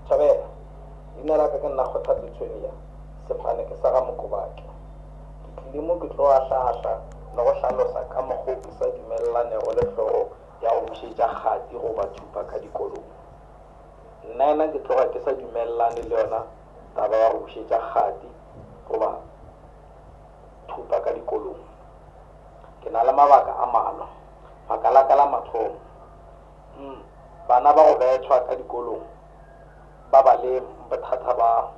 Thabela, Leina la ka ke nna Kgothatso Tshwenya, sefane ke sa ga Mokobake. Ke tlile mo ke tlo ahlaahla le go hlalosa ka mokgo ke sa dumellanego le hlogo ya go bušetša kgati goba thupa ka dikolong. Nnayena ke tloga ke sa dumellane le yona taba ya go bušetša kgati goba thupa ka dikolong. Ke na le mabaka a malwa. Baka la ka la mathomo, Umm bana ba go bethwa ka dikolong ba ba le bothata ba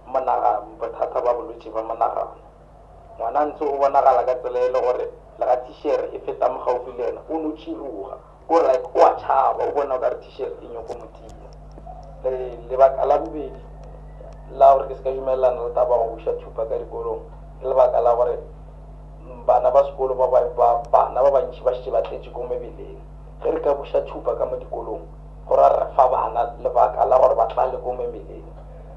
monagano, bothata ba bolwetši ba monagano. Ngwana ntse o bonagala ka tsela e le gore lega thishera e feta mo gaufi le yena o no tširoga, ko like o a tšhaba, o bona okare thishera e nyoko mo tima. Le lebaka la bobedi la gore ke se ka dumelelana le taba ya go buša thupa ka dikolong ke lebaka la gore bana ba sekolo ba bana ba bantši ba šetše ba tletše ko mebeleng. Ge re ka buša tšhupa ka mo dikolong, go ra re fa bana lebaka la gore ba tlale ko memeleng.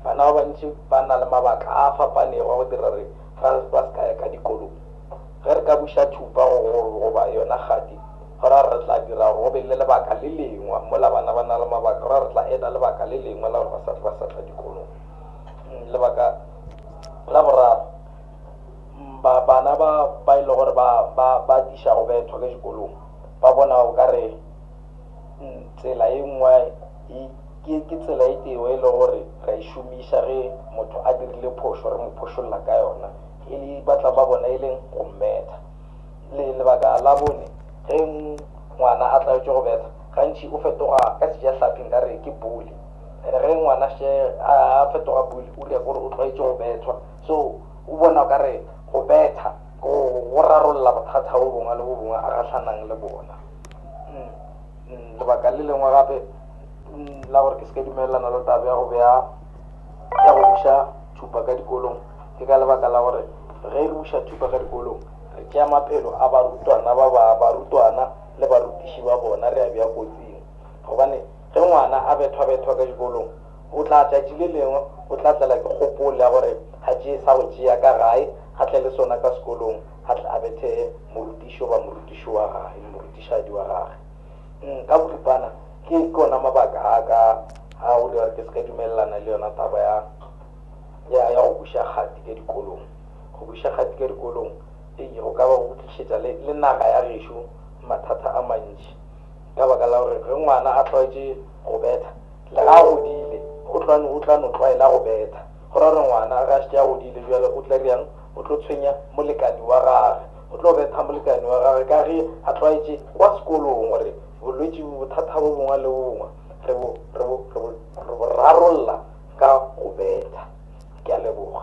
Bana ba bantši ba na le mabaka a a fapanego a go dira gore ba se ka ya ka dikolong. Ge re ka buša tšhupa go golo goba yona kgati, go ra re tla dira gore go be le lebaka le lengwe. Mola bana ba na le mabaka, go ra re tla eda lebaka le lengwe la gore ba sa tle ba sa tla dikolong. Lebaka la boraro, bana ba ba e lego gore ba ba ba atiša go bethwa ka dikolong. Ba bona o ka re tsela e nngwe e, ke, ke tsela e tee yeo e lego gore re a e šomiša ge motho a dirile phošo, re mo phošolla ka yona, e le, ba tla ba bona e leng go mmetha. Le, lebaka la bone, ge ngwana a tlwaetše go betha, gantši o fetoga, ka Sejahlapi nka re ke bully. And ge ngwana a še a, a fetoga bully, o re ya ke gore o tlwaetše go bethwa. So o bona o ka re go betha. go rarolla bothata bo bongwe le bo bongwe a gahlanang le bona mm, mm, lebaka le lengwe gape mm, la gore ke se ka dumelelana le tabe ya go beya ya go buša thupa ka dikolong ke ka lebaka la gore ge re buša thupa ka dikolong re tšea maphelo a barutwana ba ba barutwana le barutiši ba bona re a bja kotsing gobane ge ngwana a bethwabethwa ka dikolong O tla tšatši le lengwe o tla tlela ke kgopol ya gore a tšee sa go tšea ka gae, a tle le sona ka sekolong, a tle a bethe morutiši goba morutiši wa gage le morutišadi wa gage. Ng, ka boripana, ke, ke ona mabaka a ka a go dira gore ke se ka dumelelana le yona taba ya, ya, ya go buša kgati ka dikolong. Go buša kgati ka dikolong, eyi, go ka ba go tlišetša le, le naga ya gešo mathata a mantši. Ka baka la gore ge ngwana a tlwaetše go betha, lega a godile, go tlwani o tla no tlwaela go betha. Go ra gore ngwana ge a šetše a godile bjale o tla dira'ng? O tlo tshwenya molekani wa gage. O tlo betha molekani wa gage ka ge a tlwaetše kwa sekolong gore bolwetši bo bothata bo bongwe le bo bongwe re bo, re bo, re bo, re bo rarolla ka go betha. Ke a leboga.